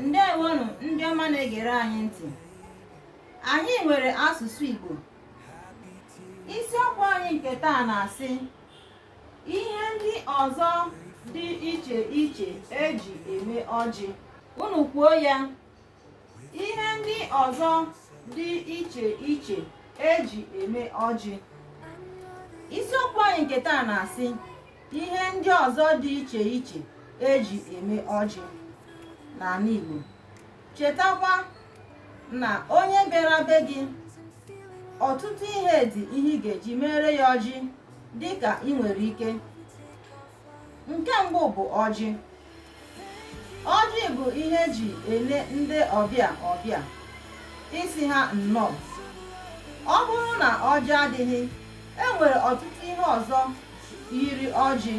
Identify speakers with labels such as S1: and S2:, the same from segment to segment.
S1: ndewonụ ndị ọma na-egere anyị ntị anyị nwere asụsụ Igbo isiokwu anyị nke taa na-asị ihe ndị ọzọ dị iche iche eji eme ọjị unu kwuo ya ihe ndị ọzọ dị iche iche eji eme ọjị isiokwu anyị nke taa na-asị ihe ndị ọzọ dị iche iche eji eme ọjị n'ala Igbo chetakwa na onye bịara be gị ọtụtụ ihe dị ihe ị ga-eji mere ya ọjị dịka ị nwere ike nke mbụ bụ ọjị ọjị bụ ihe eji ele ndị ọbịa ọbịa ịsị ha nnọọ ọ bụrụ na ọjị adịghị e nwere ọtụtụ ihe ọzọ yiri ọjị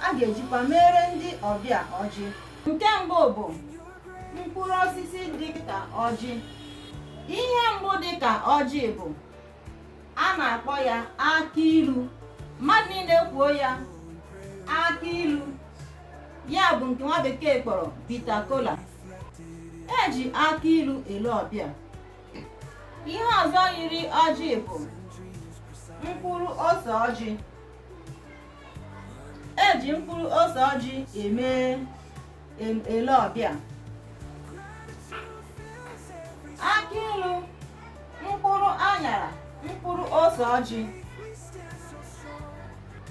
S1: a ga-ejikwa mere ndị ọbịa ọjị nke mbụ bụ mkpụrụ osisi dịka ọjị ihe mbụ dịka ọjị bụ a na-akpọ ya akị ilu mmadụ niile kwuo ya akị ilu ya bụ nke nwa bekee kpọrọ bitter kola eji akị ilu ele ọbịa ihe ọzọ yiri ọjị bụ mkpụrụ ose ọjị eji mkpụrụ ose ọjị eme ele ọbịa akị ilu mkpụrụ anyara mkpụrụ ose ọjị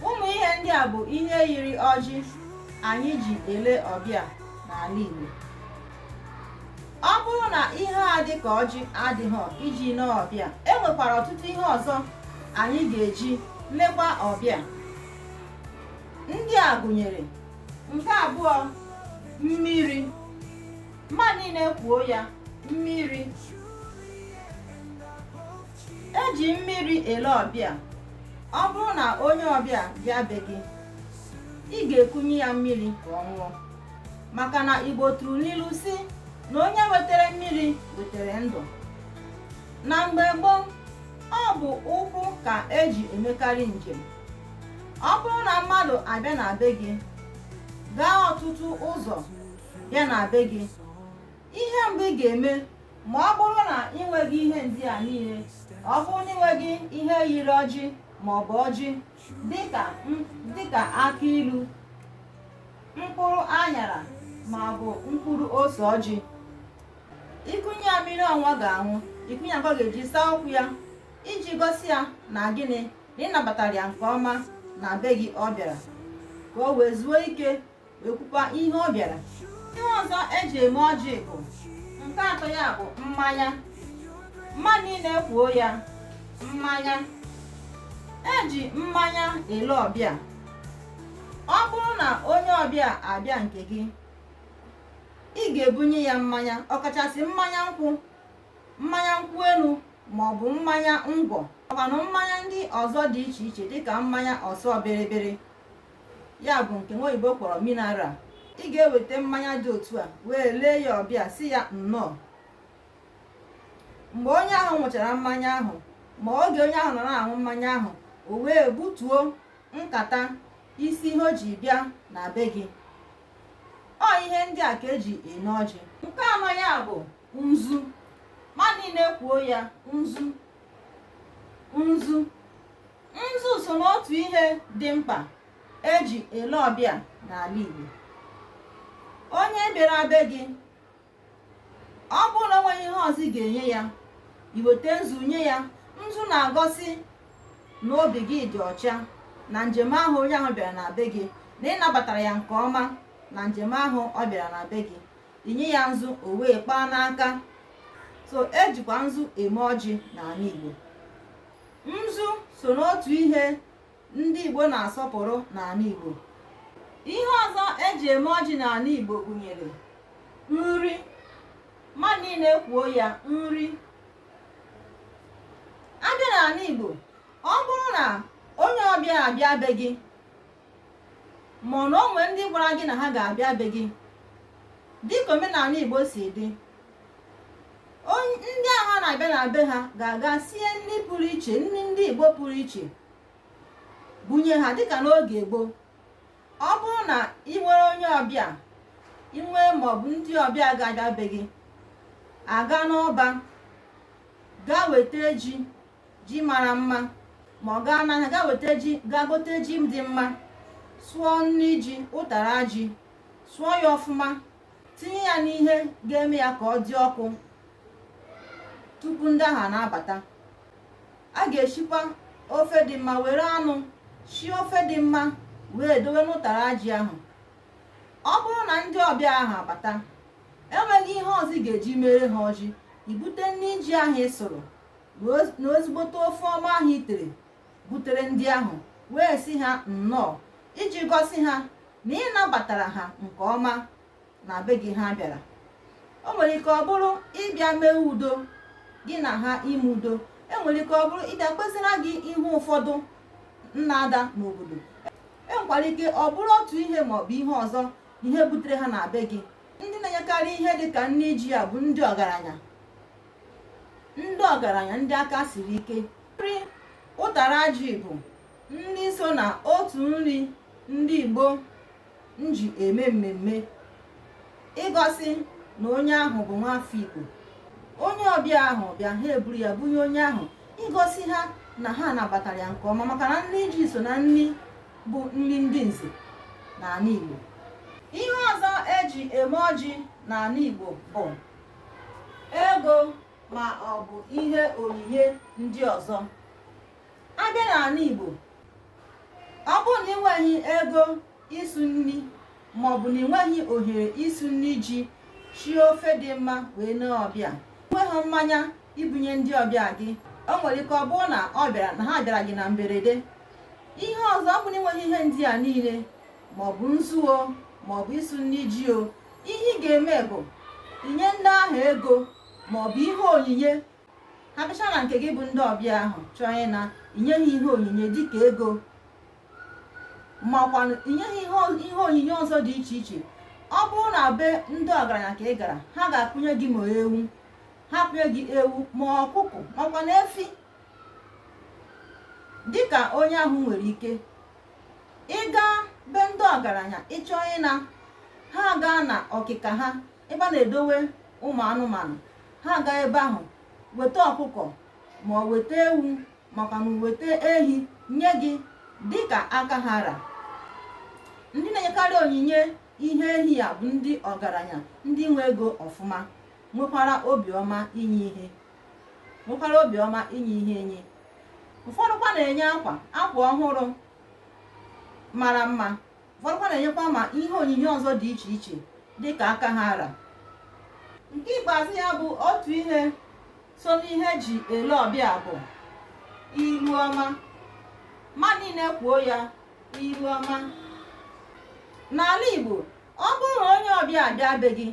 S1: ụmụ ihe ndị a bụ ihe yiri ọjị anyị ji ele ọbịa n'ala Igbo ọ bụrụ na ihe a dị ka ọjị adịghị iji lee ọbịa e nwekwara ọtụtụ ihe ọzọ anyị ga-eji lekwa ọbịa ndị a gụnyere nke abụọ mmiri mmadụ niile kwuo ya mmiri eji mmiri ele ọbịa ọ bụrụ na onye ọbịa bịa be gị ị ga-ekunye ya mmiri ka ọ ṅụọ maka na Igbo tụrụ n'ilu sị na onye wetere mmiri wetere ndụ na mgbe gboo ọ bụ ụkwụ ka eji emekarị njem ọ bụrụ na mmadụ abịa na be gị gaa ọtụtụ ụzọ bịa na be gị ihe mbụ ị ga-eme ma ọ bụrụ na ị nweghị ihe ndị a niile ọ bụrụ na ị nweghị ihe yiri ọjị ma ọ bụ ọjị dịka m- dịka akị ilu mkpụrụ anyara ma ọ bụ mkpụrụ ose ọjị ikunye ya mmiri ọnwa ga-aṅụ ikunye ya nke ọ ga-eji saa ụkwụ ya iji gosi ya na gịnị na ị nabatara ya nke ọma na be gị ọ bịara ka o wee zuo ike wee kwukwa ihe ọ bịara ihe ọzọ eji eme ọjị bụ nke atọ ya bụ mmanya mmadụ niile kwuo ya mmanya eji mmanya ele ọbịa ọ bụrụ na onye ọbịa abịa nke gị ị ga-ebunye ya mmanya ọkachasị mmanya nkwụ mmanya nkwụ elu ma ọ bụ mmanya ngwọ ọkwanụ mmanya ndị ọzọ dị iche iche dịka mmanya ọsọ bịrịbịrị ya bụ nke nwa oyibo kpọrọ mineral ị ga-eweta mmanya dị otu a wee lee ya ọbịa si ya nnọọ mgbe onye ahụ ṅụchara mmanya ahụ ma oge onye ahụ nọ na-aṅụ mmanya ahụ o wee butuo nkata isi ihe o ji bịa na be gị ọ ihe ndị a ka eji eme ọjị nke anọ ya bụ nzu mmadụ niile kwuo ya nzu nzu nzu so n'otu ihe dị mkpa eji ele ọbịa n'ala Igbo onye bịara be gị ọ bụrụ na o nweghị ihe ọzọ ị ga-enye ya i weta nzu nye ya nzu na-egosi na obi gị dị ọcha na njem ahụ onye ahụ bịara na be gị na ị nabatara ya nke ọma na njem ahụ ọ bịara na be gị i nye ya nzu o wee kpaa n'aka so ejikwa nzu eme ọjị n'ala Igbo nzu so n'otu ihe ndị Igbo na-asọpụrụ n'ala Igbo ihe ọzọ eji eme ọjị n'ala Igbo gụnyere nri mmadụ niile kwuo ya nri a bịa n'ala Igbo ọ bụrụ na onye ọbịa abịa be gị ma ọ na o nwere ndị gwara gị na ha ga-abịa be gị dịka omenala Igbo si dị ndị ahụ na-abịa na be ha ga-aga sie nri pụrụ iche nri ndị Igbo pụrụ iche bunye ha dịka n'oge gboo ọ bụrụ na i nwere onye ọbịa i nwere maọbụ ndị ọbịa ga-abịa be gị a gaa n'ọba gaa weta ji ji mara mma ma ọ gaa n'ahịa gaa weta ji gaa gote ji dị mma sụọ nri ji ụtara ji sụọ ya ọfụma tinye ya n'ihe ga-eme ya ka ọ dị ọkụ tupu ndị ahụ na-abata a ga-esikwa ofe dị mma were anụ sie ofe dị mma wee dowe n'ụtara ji ahụ ọ bụrụ na ndị ọbịa ahụ abata enweghị ihe ọzọ ị ga-eji mere ha ọjị i bute nri ji ahụ ị sụrụ na ezigbote ofe ọma ahụ i tere butere ndị ahụ wee sị ha nnọọ iji gosi ha na ị nabatara ha nke ọma na be gị ha bịara o nwere ike ọ bụrụ ịbịa mee udo gị na ha ime udo enwere ike ọ bụrụ ịbịa kpesara gị ihe ụfọdụ nna-ada n'obodo enwekwara ike ọ bụrụ otu ihe maọbụ ihe ọzọ ihe butere ha na be gị ndị na-enyekarị ihe dị ka nri ji ya bụ ndị ọgaranya ndị ọgaranya ndị aka siri ike nri ụtara ji bụ nri so na otu nri ndị Igbo nji eme mmemme igosi na onye ahụ bụ nwafọ Igbo onye ọbịa ahụ bịa ha eburu ya bunye onye ahụ igosi ha na ha nabatara ya nke ọma maka na nri ji so na nri bụ nri ndị nze n'ala Igbo ihe ọzọ eji eme ọjị n'ala Igbo bụ ego ma ọ bụ ihe onyinye ndị ọzọ abịa n'ala Igbo ọ bụrụ na i nweghị ego ịsụ nri maọbụ na i nweghị ohere ịsụ nri ji shie ofe dị mma wee nee ọbịa nweghị mmanya ibunye ndị ọbịa gị o nwere ike ọ bụrụ na ọ bịara na ha bịara gị na mberede ihe ọzọ ọ bụ na i nweghị ihe ndị a niile maọbụ nzu o maọbụ ịsụ nri ji o ihe ị ga-eme bụ inye ndị ahụ ego ma ọ bụ ihe onyinye ha bịacha na nke gị bụ ndị ọbịa ahụ chọọ ịna i nye ha ihe onyinye dịka ego makwa inye ha ihe onyinye ọzọ dị iche iche ọ bụrụ na be ndị ọgaranya ka ị gara ha ga-akpụnye gị ma ewu ha kpụnye gị ewu ma ọkụkọ makwa na efi dịka onye ahụ nwere ike ị gaa be ndị ọgaranya ị chọọ ịna ha agaa na ọkịka ha ebe a na-edowe ụmụ anụmanụ ha agaa ebe ahụ weta ọkụkọ ma ọ weta ewu makwa na weta ehi nye gị dịka aka ha ra ndị na-enyekarị onyinye ihe ehi ya bụ ndị ọgaranya ndị nwe ego ọfụma nwekwara obiọma inye ihe nwekwara obiọma inye ihe enye ụfọdụkwa na-enye akwa akwa ọhụrụ mara mma ụfọdụkwa na-enyekwa ma ihe onyinye ọzọ dị iche iche dị ka aka ha ra nke ikpeazụ ya bụ otu ihe so n'ihe eji ele ọbịa bụ iru ọma mmadụ niile kwuo ya iru ọma n'ala Igbo ọ bụrụ na onye ọbịa abịa be gị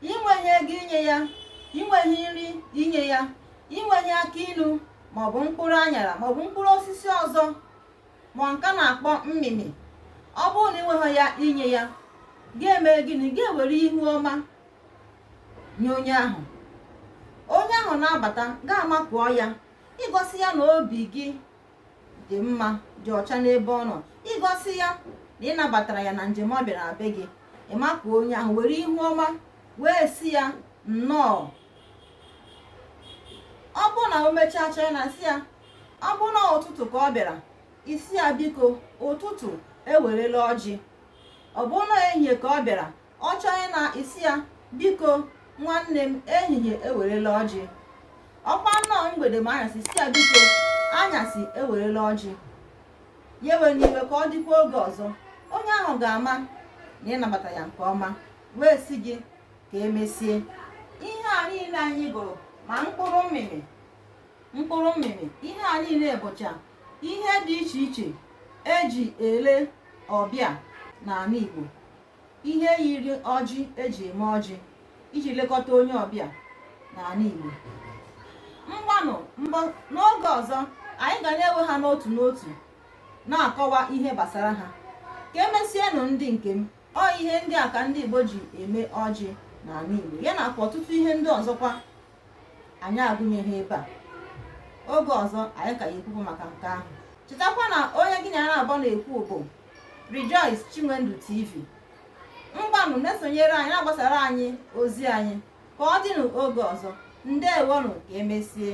S1: ị nweghị ego inye ya ị nweghị nri inye ya ị nweghị akị inu maọbụ mkpụrụ anyara maọbụ mkpụrụ osisi ọzọ ma nke a na-akpọ mmịmị ọ bụrụ na ị nweghị ya inye ya gị emee gịnị gị ewere ihu ọma nye onye ahụ onye ahụ na-abata gị amakụọ ya igosi ya na obi gị dị mma dị ọcha n'ebe ọ nọ igosi ya na ị nabatara ya na njem ọ bịara be gị ị makụọ onye ahụ were ihu ọma wee sị ya nnọọ ọ bụ na o mechaa chọọ ịna sị ya ọ bụ na ụtụtụ ka ọ bịara ị sị ya biko ụtụtụ ewerela ọjị ọ bụ na ehihie ka ọ bịara ọ chọọ ịna ị sị ya biko nwanne m ehihie ewerela ọjị ọkwa nnọọ mgbede ma anyasị ị sị ya biko anyasị ewerela ọjị ya ewena iwe ka ọ dịkwa oge ọzọ onye ahụ ga-ama na ị nabata ya nke ọma wee sị gị ka emesie ihe a niile anyị gụrụ ma mkpụrụ mmịmị mkpụrụ mmịmị ihe a niile bụcha ihe dị iche iche e ji ele ọbịa n'ala Igbo Ihe yiri ọjị e ji eme ọjị iji lekọta onye ọbịa n'ala Igbo. Ngwanụ n'oge ọzọ anyị ga na-ewe ha n'otu n'otu na-akọwa ihe gbasara ha. Ka emesienụ ndị nke m, ọ ihe ndị a ka ndị Igbo ji eme ọjị n'ala Igbo, ya nakwa ọtụtụ ihe ndị ọzọkwa anyị agụnyeghị ebe a oge ọzọ anyị ka ya ekwukwu maka nke ahụ chetakwa na onye gị na ya naabọ na-ekwu bụ Rejoice Chinwendu TV ngwanụ na-esonyere anyị na-agbasara anyị ozi anyị ka ọ dịnụ oge ọzọ ndewonụ ka emesie